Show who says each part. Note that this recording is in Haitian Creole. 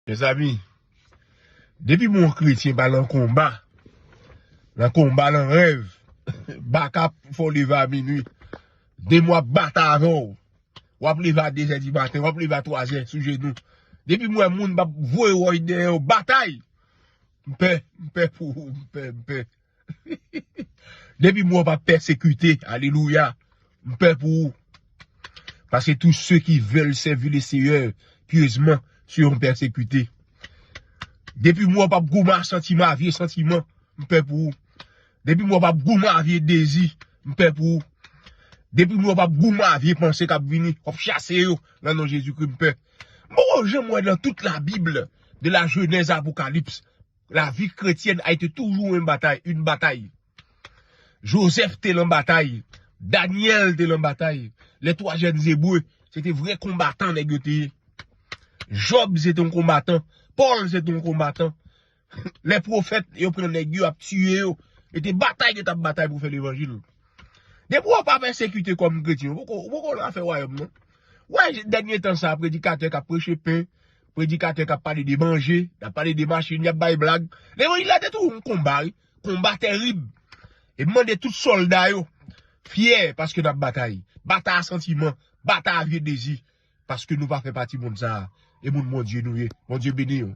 Speaker 1: Mezanmi Depi bon kretyen pa nan konba Nan konba nan rèv Baka fè w leve a minwi Demon ap batay avè w Wap leve a dezè di maten Wap leve a twazè sou jenou Depi m wè moun m pap voye woy dèyè yo Batay M pè M pè pou ou M pè M pè M pè Depi mwen pa pèsekite, alelouya, m pè pou ou. Paske tou se ki vèl sèvi le seyè pyezman se yon pèsekite. Depi mwen pa gouman santiman avye santiman, m pè pou ou. Depi mwen pa gouman avye dezi, m pè pou ou. Depi mwen pa gouman avye panse kap vini, wap chase yo nan non Jezi kri m pè. M poko jan mwen nan tout la bib de la jenèz a apokalips. La vie chrétienne a été toujours une bataille, une bataille. Joseph te lan batay, Daniel te lan batay, les trois jeunes hébreux, se te vre konbatan nèg yo te ye. Job se te yon konbatan, Paul se te yon konbatan. Les prophètes, yo pran nèg yo ap tiye yo, yo te batay yo tap batay pou fè levanjil. Depi wap ap ensekite kòm kretyen, ou poko lan fè wayòm non. Wè dènye tan sa predikatè kap preche pen, Predikatè kap pale de manje, yap pale de machin, yap bay blag. Levanjil la te tou yon konba wi. Konba terib. E m mande tout solda yo fyè paske nap batay. Batay a santiman, batay a vye dezi. Paske nou pa fè pati moun sa a. E moun Bondye nou ye. Bondye beni nou.